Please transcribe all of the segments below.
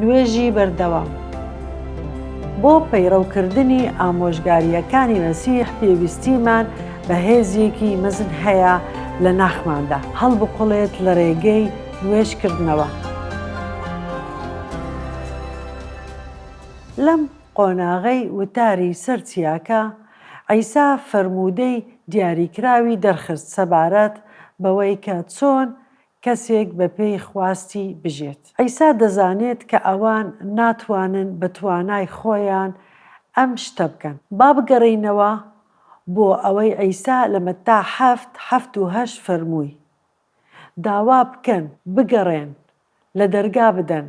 نوێژی بەردەوام بۆ پەیڕەوکردنی ئامۆژگارییەکانی مەسیح پێویستیمان بە هێزیەکی مەزن هەیە لە ناخماندا هەڵبقڵێت لە ڕێگەی نوێژکردنەوە لەم قۆناغەی وتاری سەر چیاکە عیسا فەرموودەی دیاریکراوی دەرخست سەبارەت بەوەی کە چۆن کەسێک بە پێی خواستی بژێت. عیسا دەزانێت کە ئەوان ناتوانن بە توانای خۆیان ئەم شتە بکەن. با بگەڕێینەوە بۆ ئەوەی عیسا لە مەتا حەفت، حەفت و هەشت فەرمووی، داوا بکەن، بگەڕێن، لە دەرگا بدەن،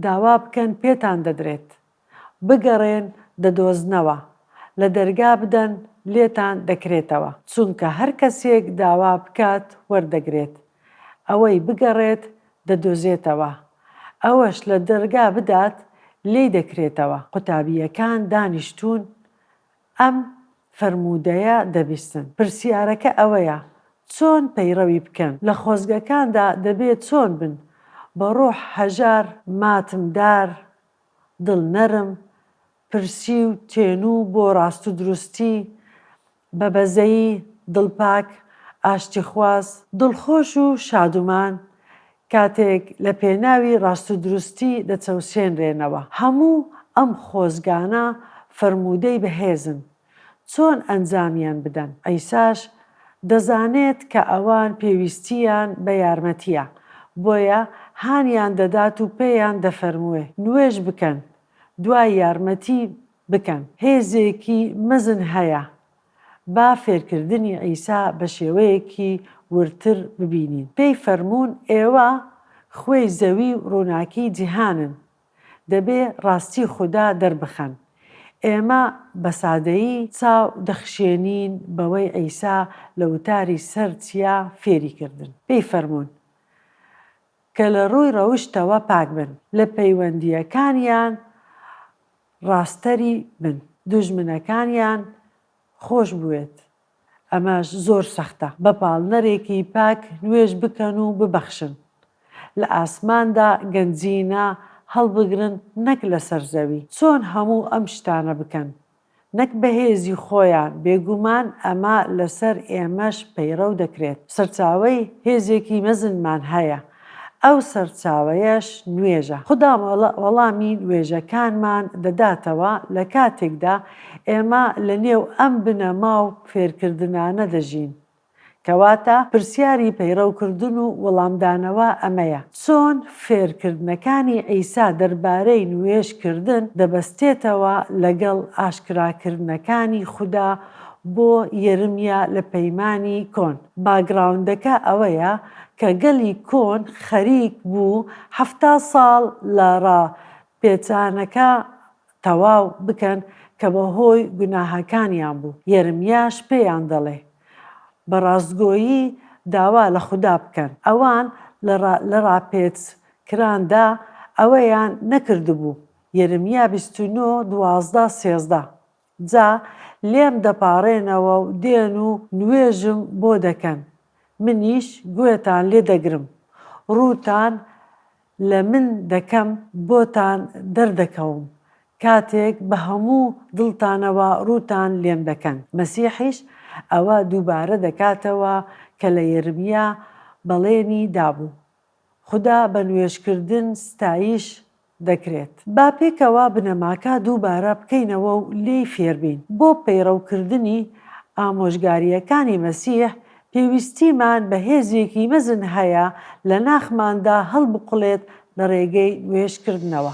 داوا بکەن پێتان دەدرێت. بگەڕێن دەدۆزنەوە، لە دەرگا بدەن لێتان دەکرێتەوە، چونکە هەر کەسێک داوا بکات وەردەگرێت، ئەوەی بگەڕێت دەدۆزێتەوە، ئەوەش لە دەرگا بدات لێی دەکرێتەوە. قوتابییەکان دانیشتوون ئەم فەرموودەیە دەبیستن. پرسیارەکە ئەوەیە چۆن پەیڕەوی بکەن؟ لە خۆزگەکاندا دەبێ چۆن بن؟ بە ڕۆح هەژار، ماتمدار، دڵ نەرم، پرسی و تێنو بۆ ڕاست و دروستی، بە بەزەیی، دڵ پاک، ئاشتیخواز. دڵخۆش و شادومان کاتێک لە پێناوی ڕاست و دروستی دەچەوسێنرێنەوە. هەموو ئەم خۆزگانە فەرموودەی بەهێزن. چۆن ئەنجامیان بدەن؟ عیساش دەزانێت کە ئەوان پێویستییان بە یارمەتییە، بۆیە هانیان دەدات و پێیان دەفەرموێ، نوێژ بکەن، دوای یارمەتی بکەن. هێزێکی مەزن هەیە. با فێرکردنی عیسا بە شێوەیەکی وردتر ببینین. پێی فەرموون، ئێوە خوێی زەوی و ڕووناکیی جیهانن. دەبێ ڕاستی خودا دەربخەن. ئێمە بە سادەیی چاو دەخشێنین بەوەی عیسا لە وتاری سەر چیا فێری کردن پێی فەرموون کە لە ڕووی ڕەوشتەوە پاک بن، لە پەیوەندییەکانیان ڕاستتری بن، دوژمنەکانیان خۆش بوێت. ئەمەش زۆر سەختە بە پاڵنەرێکی پاک نوێژ بکەن و ببەخشن لە ئاسماندا گەنجینە هەڵبگرن نەک لەسەر زەوی چۆن هەموو ئەم شتانە بکەن نەک بە هێزی خۆیان بێگومان ئەمە لەسەر ئێمەش پەیڕەو دەکرێت سەرچاوەی هێزێکی مەزنمان هەیە ئەو سەرچاوەیەش نوێژە. خودا وەڵامی نوێژەکانمان دەداتەوە لە کاتێکدا ئێمە لە نێو ئەم بنەما و فێرکردنانە دەژین. کەواتە پرسیاری پەیڕەوکردن و وەڵامدانەوە ئەمەیە، چۆن فێرکردنەکانی عیسا دەربارەی نوێژکردن دەبەستێتەوە لەگەڵ ئاشکراکردنەکانی خودا بۆ یەرمیا لە پەیمانی کۆن؟ باکگراوندەکە ئەوەیە کە گەلی کۆن خەریک بوو حەفتا ساڵ لە ڕا پێچانەکە تەواو بکەن کە بە هۆی گوناهەکانیان بوو، یەرمیاش پێیان دەڵێ بە ڕاستگۆیی داوا لە خودا بکەن. ئەوان لە ڕاپێچ کراندا ئەوەیان نەکردبوو، یەرمیا بیست و نۆ، دوازدە، سێزدە. جا لێم دەپاڕێنەوە و دێن و نوێژم بۆ دەکەن، منیش گوێتان لێ دەگرم، ڕووتان لە من دەکەم، بۆتان دەردەکەوم، کاتێک بە هەموو دڵتانەوە ڕووتان لێم دەکەن. مەسیحیش ئەوە دووبارە دەکاتەوە کە لە یەرمیا بەڵێنی دابوو، خودا بە نوێژکردن ستایش دەکرێت. با پێکەوە بنەماکە دووبارە بکەینەوە و لێی فێربین. بۆ پەیڕەوکردنی ئامۆژگارییەکانی مەسیح، پێویستیمان بە هێزێکی مەزن هەیە لە ناخماندا هەڵبقوڵێت لە ڕێگەی نوێژکردنەوە.